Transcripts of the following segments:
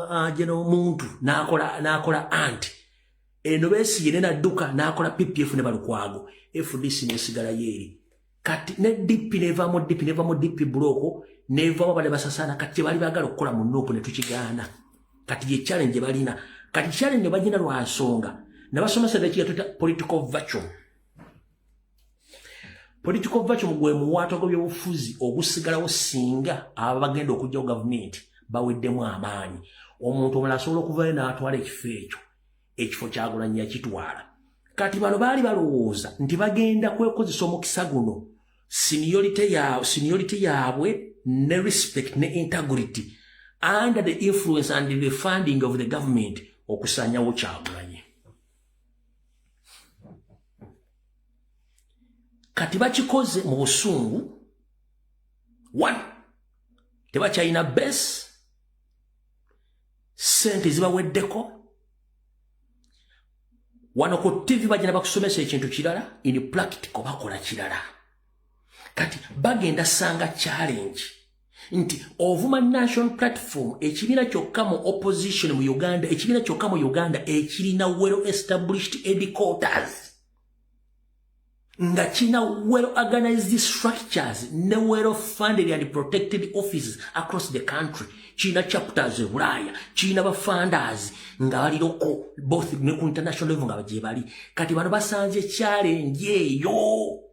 aje n'omuntu n'akola n'akola anti eno beesiye ne nadduka n'akola ppf ne balukwago fdc nesigala yeeri kati ne dp neva mu dp neva mu dp bulooko nevamu abade basasaana kati kyebali bagala okukola mu nuupu ne tukigaana kati ye challenge balina kati challenge bagina lwa nsonga nabasomesa nekiga tuta political virtual political vacuum gwe muwaata gw'ebyobufuzi ogusigalawo singa aba bagenda okujjawo gavumenti baweddemu amaanyi omuntu omala asobola okuvayo n'atwala ekifo ekyo ekifo kyagulanyi yakitwala kati bano baali balowooza nti bagenda kwekozesa omukisa guno seniority yaabwe ne respect ne integrity under the influence and the funding of the government okusanyawo kyagulanyi kati bakikoze mu busungu one tebakyalina base sente zibaweddeko wano ku ttivi bagenda bakusomesa ekintu kirala in practical bakola kirala kati bagenda sanga challenge nti ovuma national platform ekibiina kyokka mu opposition mu uganda ekibiina kyokka mu uganda ekirina well established edquarters nga kirina well organized structures ne well funded and protected offices across the country kirina chapters ebulaaya kirina bafandazi nga baliroko both ne ku international level nga bagyebali kati bano basanze challenge eyo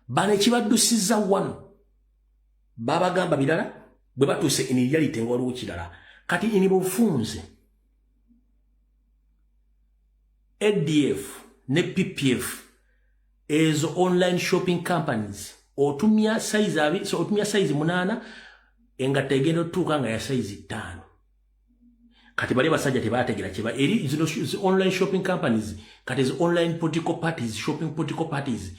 bano ekibaddusiza wano babagamba birala bwe batuuse eniryalite nga waliwo kirala kati ini bufunze adf ne ppf ezo online shopping companies otumya size abi so otumya size munana engatta egenda otutuuka nga ya size ttaano kati bali basajja tebategera kiba eri zino zi online shopping companies kati zi online political parties shopping political parties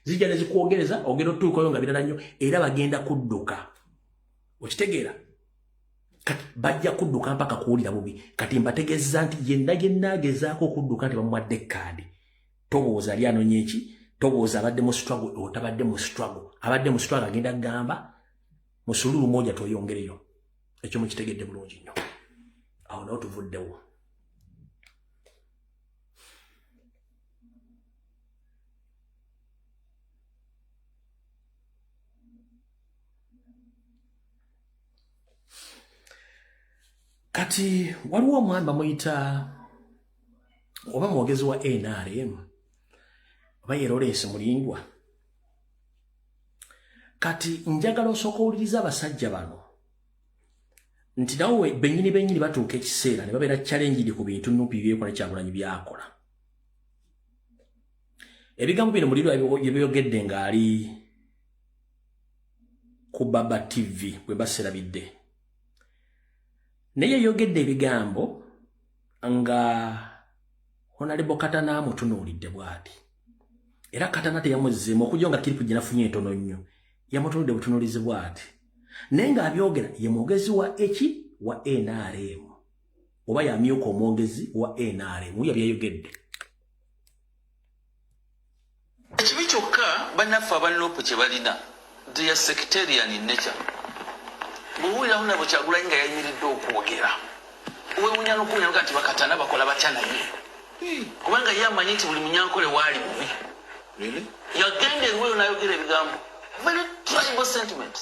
zijja nezikwogereza ogenda otuukayo nga birala nnyo era bagenda kudduka okitegeera kati bajja kudduka mpaka kuwulira bubi kati mbategeeza nti yenna yenna agezaako okudduka nti bamuwadde kaadi tobooza ali anonya eki tobooza abadde mu struggle otabadde mu struggle abadde mu struggle agenda kugamba musululu moja tweyongereyo ekyo mukitegedde bulungi nnyo awo nawo tuvuddewo kati waliwo omwami bamuyita oba mwogezi wa nrm oba yeroleesi mulindwa kati njagala osooka owuliriza abasajja bano nti nawe benyini benyini batuuka ekiseera ne babeera chalengidi ku bintu nupi byekola kyagulanyi byakola ebigambo bino muliro yebyoyogedde ng'ali ku baba tv bwe baserabidde naye yeyogedde ebigambo nga honalebo katana amutunuulidde bwati era katana teyamuzzeemu okujja nga kiripu gyenafunye entono nnyo yamutunuulidde butunuulizi bwati naye ng'abyogera ye mwogezi wa eki wa nrm oba yamyuka omwogezi wa nrm yabiyayogedde ekibi kyokka bannaffe aba nup kye balina their sectarian in nature bwowulirawo nabo kyagulanyi nga yayimiridde okwogera owewunya nokuwuliraga nti bakatana bakola batya naye hmm. kubanga ye amanyi nti buli munyankole waali bubi yagenda eriweyo nayogera ebigambo very tribal sentiments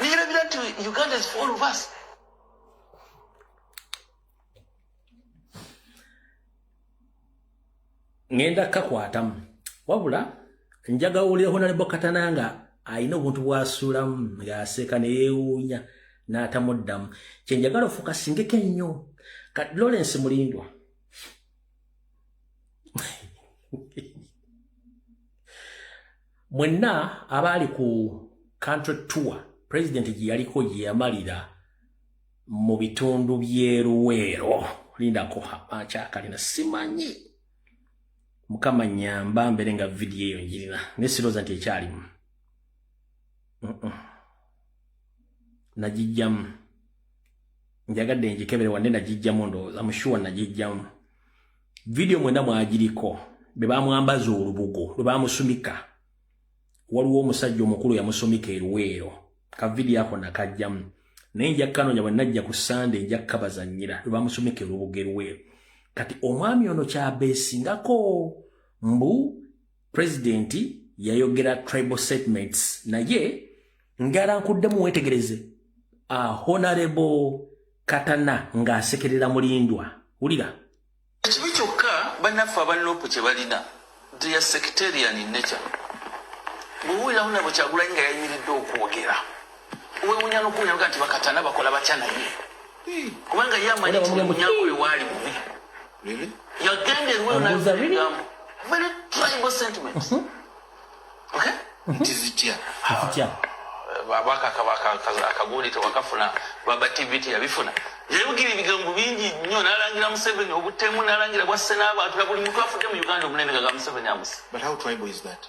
nirabira nti uganda is for all of us ngenda kakwatamu wabula njaga wulira honalebo katana nga alina obuntu bwasuulamu ng'aseeka ne yeewuunya n'atamuddamu kye njagala ofuuka singeko ennyo kati lawrence mulindwa mwenna abaali ku country tour pulezidenti gye yaliko gye yamalira mu bitundu by'eruweero lindako akyakalina simanyi mukama nyamba mbere nga vidiyo eyo njirina naye sirooza nti ekyalimu nagijjamu njagadde njikebere wadde nagijjamu ndowooza mushuwa nagijjamu vidiyo mwena mwagiriko be bamwambaza olubugo lwe bamusumika waliwo omusajja omukulu yamusumika eruweero ka vidiyo ako nakajjamu naye nja kanonya bwe najja ku sande nja kukabazanyira lwe bamusumika erubugo eruweero kati omwami ono kyabeesingako mbu president yayogera tribal statements naye ngala nkuddemu wetegereze a honorable katana ng'asekerera mulindwa wulira ekibi kyokka bannaffe abanlopu kye balina dia sectarian nature bwewuliramu nabo kyagulanyi nga yayimiridde okwogera wewunya nokuwulira nga nti bakatana bakola batya naye kubanga ye amanyi nti munyago we waali bubi yagenda eruweyo naegambo very tribal sentiment mhm. okay mhm. nti zitya zitya akagundi tewakafuna baba tv teyabifuna yayogera ebigambo bingi nnyo nalangira museveni obutemu nalangira bwasse n'abantu na buli muntu afudde mu uganda omunene nga ga museveni amusi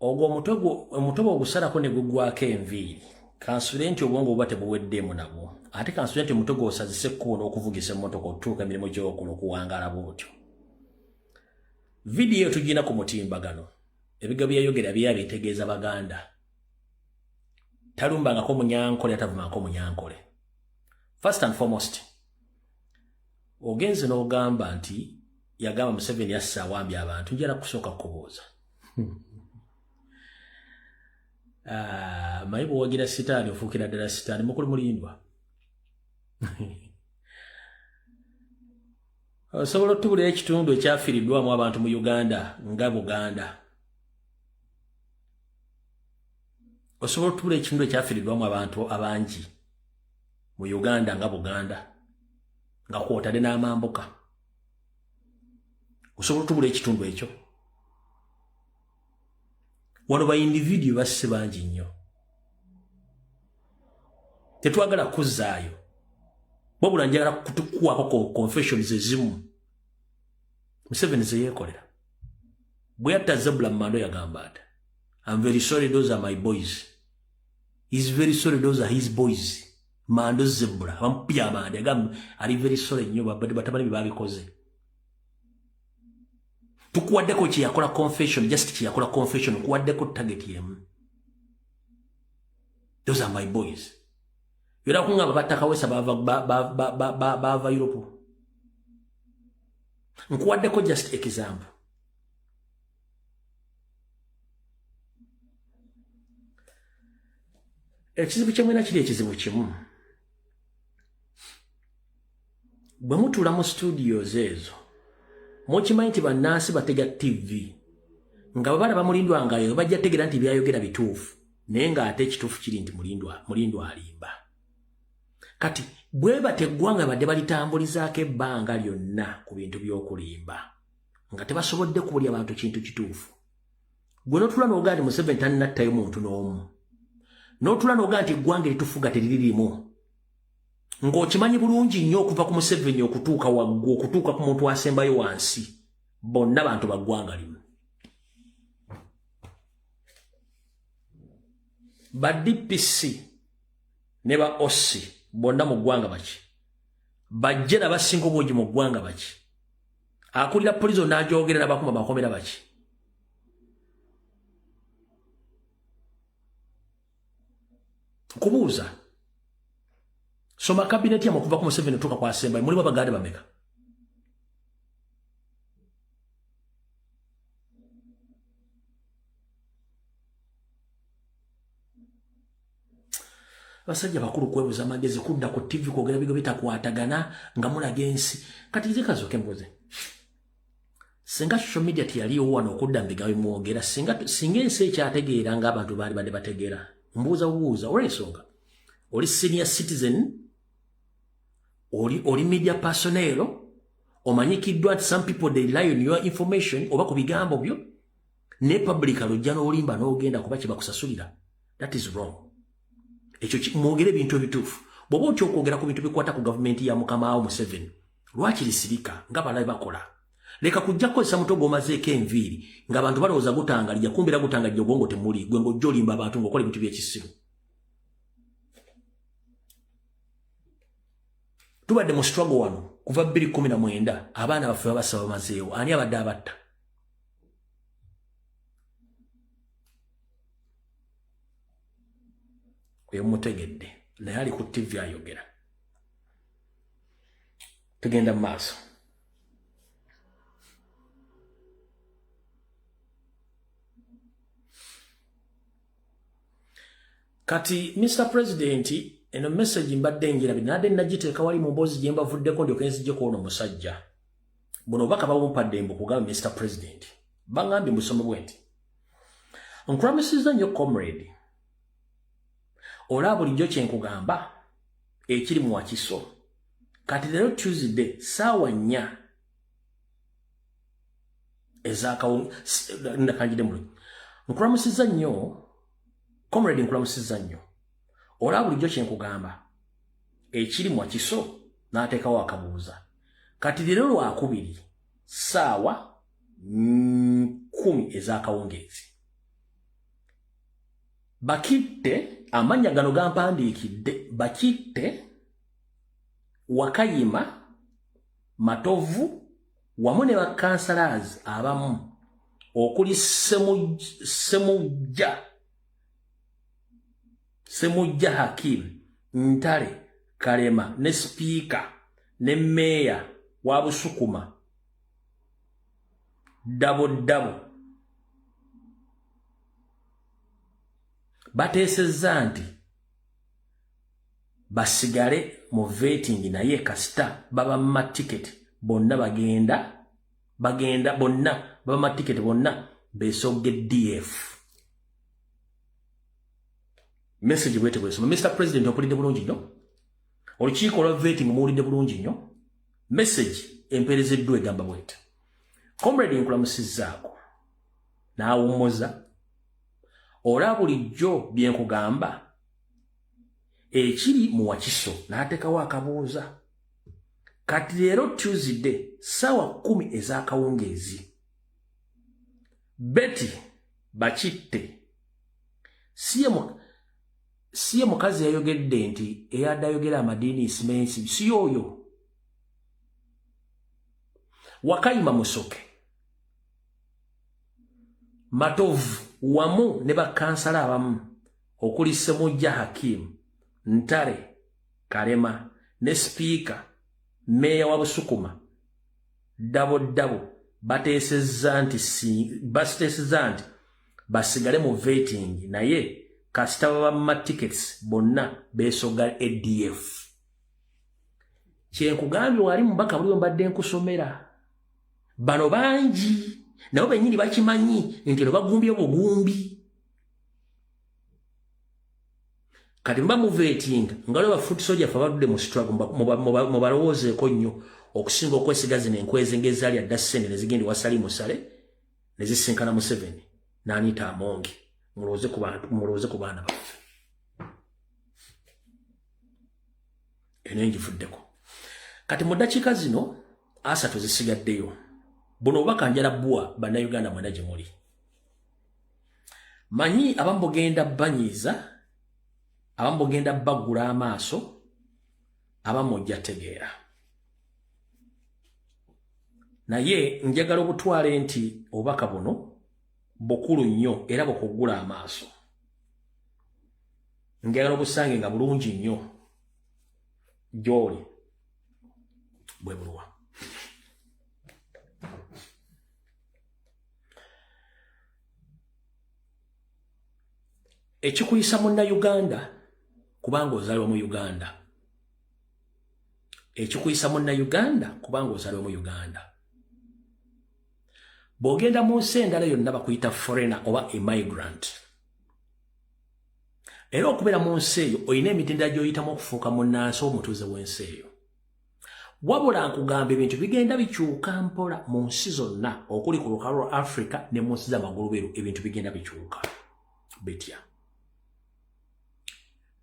ogwo omutwe gwo ogusalako ne gugwako enviiri kansubire nti obwongo buba tebuweddeemu nabwo ate kansubire nti omutwe gwosazise ekkubo n'okuvugisa emmotoka otutuuka emirimu gy'okula okuwangaala bwotyo vidiyo tugina ku mutimbagano ebiga byeyogera byeya bitegeeza baganda talumbangako munyankole atavumangako munyankole first and foremost ogenze n'ogamba nti yagamba museveni assa awambye abantu njala kusooka kukubuuza ah, maye bwewagira sitaani ofuukira ddala sitaani mukulu mulindwa osobola otubulira ekitundu ekyafiridwamu abantu mu uganda nga buganda osobola otubulira ekitundu ekyafiridwamu abantu abangi mu uganda nga buganda nga kwotade n'amambuka osobola otubula ekitundu ekyo wano ba individio basse bangi nnyo tetwagala kuzzaayo wabula njagala kutukwako ku confessions ezimu museveni zeyeekolera bwe yatta zebula mumando yagamba ati am very sorry those are my boys is very sorry those are his boys mando zebula bamupya amande agamba ali very sorry nnyo babadde batabani be babikoze tukuwaddeko kyeyakola confession just kyeyakola confession okuwaddeko target yemu those are my boys era kungamba batakawesa baava europe nkuwaddeko just example ekizibu kyemwena kiri ekizibu kimu bwe mutuula mu studios ezo mukimanyi nti bannansi batega tv nga bwe balaba mulindwa ngayo bajja tegera nti byayogera bituufu naye ng'ate ekituufu kiri nti mulindwa alimba kati bwe bateggwa nga badde balitambulizaako ebbanga lyonna ku bintu by'okulimba nga tebasobodde kuulya bantu kintu kituufu gwe notula noga nti museveni tannattayo muntu n'omu notula noga nti eggwanga eritufuga teriri limu ng'okimanyi bulungi nnyo okuva ku museveni okutuuka waggwe okutuuka ku muntu asembayo wansi bonna bantu baggwanga limu ba dpc ne ba ossi bonna mu ggwanga baki bajje nabasinga obwogi mu ggwanga baki akulira prison n'agyogerera bakuma bakomera baki kubuuza soma kabineti yamwe okuva ku museveni otuuka ku asembayo mulimu abagaade bameka basajja bakulu kwebuza magezi kudda ku tv kwogera bigo bitakwatagana nga mulaga ensi kati nze kazoke mbuze singa social media teyaliwo wano okudda mbiga bimwogera singa singa ensi ekyategeera nga abantu baali badde bategeera mbuuza bubuuza olwensonga oli senior citizen oli oli media personero omanyikiddwa nti some people they lie on your information oba ku bigambo byo ne public alojja n'olimba n'ogenda kuba kye bakusasulira that is wrong ekyo mwogere ebintu ebituufu bw'oba otya okwogera ku bintu bikwata ku gavumenti ya mukamaawo museveni lwaki lisirika nga balabe bakola leka kujja kukozesa mutwe gw'omazeeko enviiri ng'abantu balowooza gutangalija kumbira gutangalija obwongo temuli gwe ng'ojja olimba abantu ng'okola ebintu by'ekisimu tubadde mu struggle wano kuva 219 abaana baffe babasaba mazeewo ani abadde abatta oyo mutegedde naye ali ku ttivi ayogera tugenda mu maaso kati mr president eno message mbadde enjirabi nade nagiteeka wali mu mboozi gye mbavuddeko ndyoka enzijjeko ono musajja buno obubaka bawumpadde mbu kugamba mr president bangambye musomo bwe nti nkulamusiza nnyo comrade olaba bulijjo kyenkugamba ekiri mu wakiso kati leero tuesday saawa nnya ezakakanjide mulu nkulamusiza nnyo comrade nkulamusiza nnyo olaba bulijjo kyenkugamba ekiri mu wakiso n'ateekawo akabuuza kati leero lwakubiri saawa kumi ezakawungeezi bakitte amannya gano gampandiikidde bakitte wakayima matovu wamu ne bakansalaazi abamu okuli semujja Semujja Hakim Ntale Kalema ne sipiika ne meeya wa Busukuma ddabo ddabo bateesezza nti basigale mu vetingi naye kasita babamma tiketi bonna bagenda bagenda bonna babamma tiketi bonna beesogge df message bwete bwesoma mr president okulidde bulungi nnyo olukiiko olwa vetting muwulidde bulungi nnyo message empeerezeddwa egamba bwete comrade nkulamusizzaako n'awummuza olwa bulijjo bye nkugamba ekiri mu wakiso n'ateekawo akabuuza kati leero tuesday ssaawa kkumi ez'akawungeezi Betty bakitte siye mukazi yayogedde nti eyadde ayogera amadiini isimensi siyo oyo wakayima musoke matovu wamu ne bakansala abamu okuli semujja hakimu ntare kalema ne sipiika meeya wa busukuma ddabo ddabo bateesezza nti basiteesezza nti basigale mu vetingi naye kasita babamma tickets bonna besoga adf kyenkugambye wali mubaka buliwo mbadde nkusomera bano bangi nabo benyini bakimanyi nti no bagumbye bugumbi kati mba muvetinga nga lweba foot soja fe abadudde mu struggle mubalowoozeeko nnyo okusinga okwesiga zino enkwezi ngaezaali adda ssente nezigenda wasali musale nezisinkana museveni naniita amonge mulowooze ku baana baffe eno enjivuddeko kati mu ddakiika zino asatu zisigaddeyo buno obubaka njala bwa bannayuganda mwena gye muli manyi abamu bugenda banyiiza abamu bugenda baggula amaaso abamu ojja tegeera naye njagala obutwale nti obubaka buno bukulu nnyo era bukuggula amaaso njagala obusange nga bulungi nnyo gyoli bwe buluwa ekikuyisa munna uganda kubanga ozalwa mu uganda ekikuyisa munna uganda kubanga ozalwa mu uganda bw'ogenda mu nsi endala yonna bakuyita foreigner oba emigrant era okubeera mu nsi eyo olina emitendera gy'oyitamu okufuuka munnansi omutuuze w'ensi eyo wabula nkugamba ebintu bigenda bikyuka mpola mu nsi zonna okuli ku lukalo lwa africa ne mu nsi zamaguluberu ebintu bigenda bikyuka bitya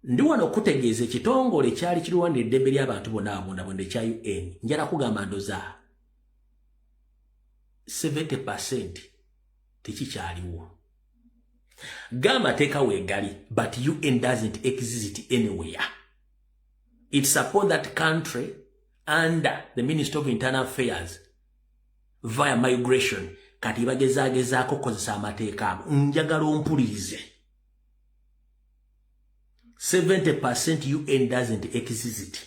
ndi wano okutegeeza ekitongole kyali kirwanira eddembe ly'abantu bona abundabunda ekya un njala kugamba ndoza 70 percent tekikyaliwo ga amateeka weegali but un doesn't exist anywhere it's upon that country under the minister of internal affairs via migration kati bagezagezaako kukozesa amateeka abo njagala ompulirize 70 percent un doesn't exist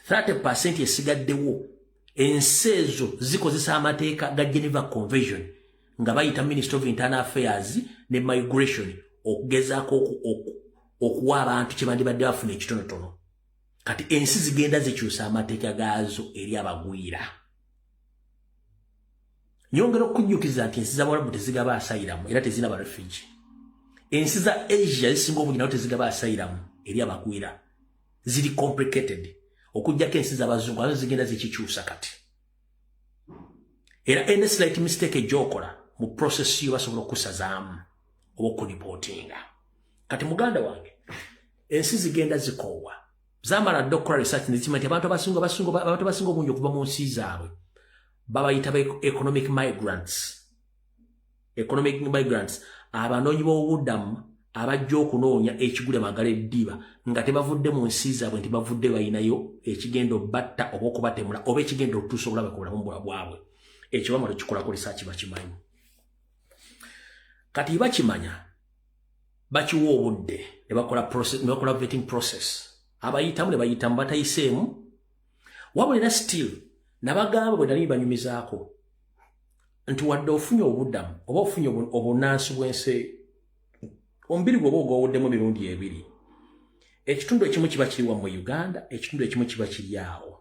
30 esigaddewo ensi ezo zikozesa amateeka ga geneva convention nga bayita minister of internal affairs ne migration okugezaako okuwa abantu kyebandibadde bafuna ekitonotono kati ensi zigenda zikyusa amateeka gaazo eri abagwira nyongera okujjukiza nti ensi zabawalabu tezigaba asayiramu era tezina barefugi ensi za asia zisinga obungi nawo tezigaba asayiramu eri abagwira ziri complicated okujjako ensi zabazungu azo zigenda zikikyusa kati era any slight mistake ejokola mu process yo basobola okusazaamu oba okunipotinga kati muganda wange ensi zigenda zikoowa zamala dda okukola research nekima nti abantu abasinga basinga abantu abasinga obungi okuva mu nsi zaabwe babayita ba economic migrants economic migrants abanoonyi b'obubudamu abajja okunoonya ekigule magala eddiba nga tebavudde mu nsi zaabwe nti bavudde balinayo ekigenda obatta oba okubatemula oba ekigenda okutuusa obulabe ku bulamu bwa bwabwe ekyo bamala okikolako lisaaki bakimanyi kati bakimanya bakiwa obudde ne bakola vetting process abayitamu ne bayitamu batayiseemu wabula era still nabagamba bwe nali banyumizaako nti wadde ofunye obuddamu oba ofunye obunaansi bw'ensi omubiri gwoba ogwowuddemu mirundi ebiri ekitundu ekimu kiba kiri wa mu uganda ekitundu ekimu kiba kiri awo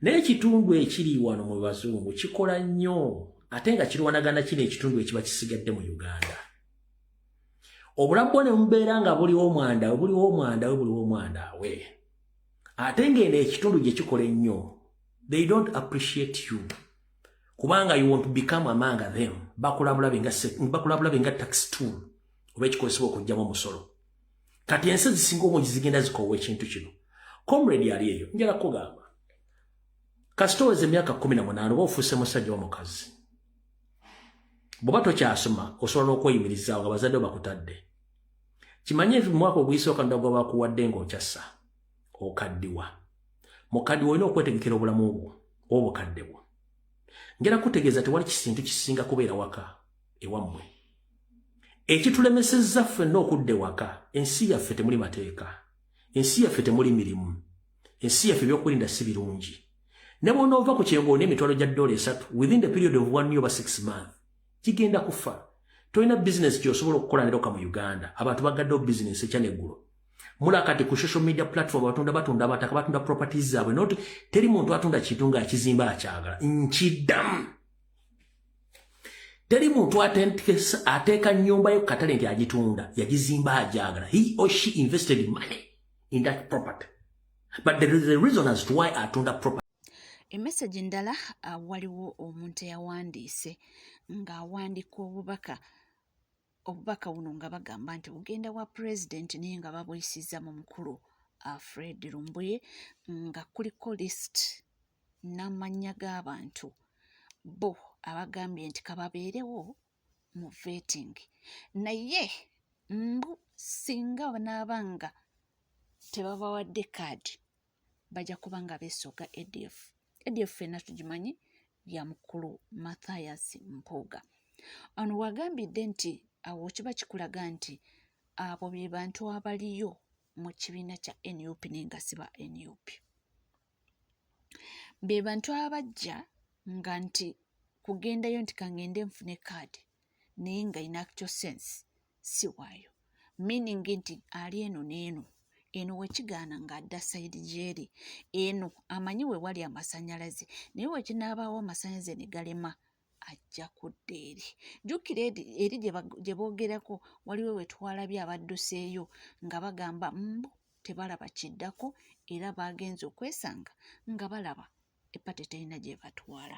naye ekitundu ekiri wano mu bazungu kikola nnyo ate nga kirwanagana kino ekitundu ekiba kisigadde mu uganda obulamu bwo ne mubeera nga buliwo omwanda we buliwo omwanda we buliwo omwanda we ate ng'eno ekitundu gye kikola ennyo they don't appreciate you kubanga you want to become among them bakulabulabe nga bakulabulabe nga tax tool oba ekikozesebwa okujjamu omusolo kati ensi zisinga obungi zigenda zikoowa ekintu kino comrade ali eyo njala kugamba kasita oweza emyaka kumi na munaana oba ofuuse musajja omukazi bwoba tokyasoma osobola n'okweyimirizaawo nga bazadde bakutadde kimanye mwaka oguyisooka ndagwa bakuwadde ng'okyassa okaddiwa mukaddiwa olina okwetegekera obulamu bwo obukadde bwo ngera kutegeeza tewali kisintu kisinga kubeera waka ewammwe ekitulemesezza ffenna okudda ewaka ensi yaffe temuli mateeka ensi yaffe temuli mirimu ensi yaffe ebyokulinda si birungi ne bwonoova ku kyengo olina emitwalo gya ddoola esatu within the period of one year oba six month kigenda kufa tolina bizinesi kyosobola okukola neroka mu uganda abantu bagaddewo bizinesi ekya neggulo mula kati ku social media platform batunda batunda abataka batunda properties zaabwe not teri muntu atunda kintu nga akizimba akyagala nkidamu teri muntu ateeka nyumba ye kukatale nti agitunda yagizimba agyagala he or she invested money in that property but there is a reason as to why atunda property emesagi ndala uh, waliwo omuntu eyawandiise ng'awandiika obubaka obubaka buno nga bagamba nti bugenda wa pulezidenti naye nga babuyisiza mu mukulu uh, fred lumbuye nga kuliko list n'amannya g'abantu bo abagambye nti kababeerewo mu vetting naye mbu singa banaaba nga tebabawadde kaadi bajja kuba nga beesooga adf adf fenna tugimanyi ya mukulu mathias mpuuga ono wagambidde nti awo kiba kikulaga nti abo be bantu abaliyo mu kibiina kya nup naye nga siba nup be bantu abajja nga nti kugendayo nti kangende nfune kaadi naye nga in actual sense si waayo meaning nti ali eno n'eno eno wekigaana ng'adda sayidi gyeri eno amanyi we wali amasannyalaze naye wekinaabaawo amasannyalaze ne galema ajja kudda eri jjukira eri gye boogerako waliwo wetwalabye abadduseeyo nga bagamba mbu tebalaba kiddako era baagenza okwesanga nga balaba epate terina gye batwala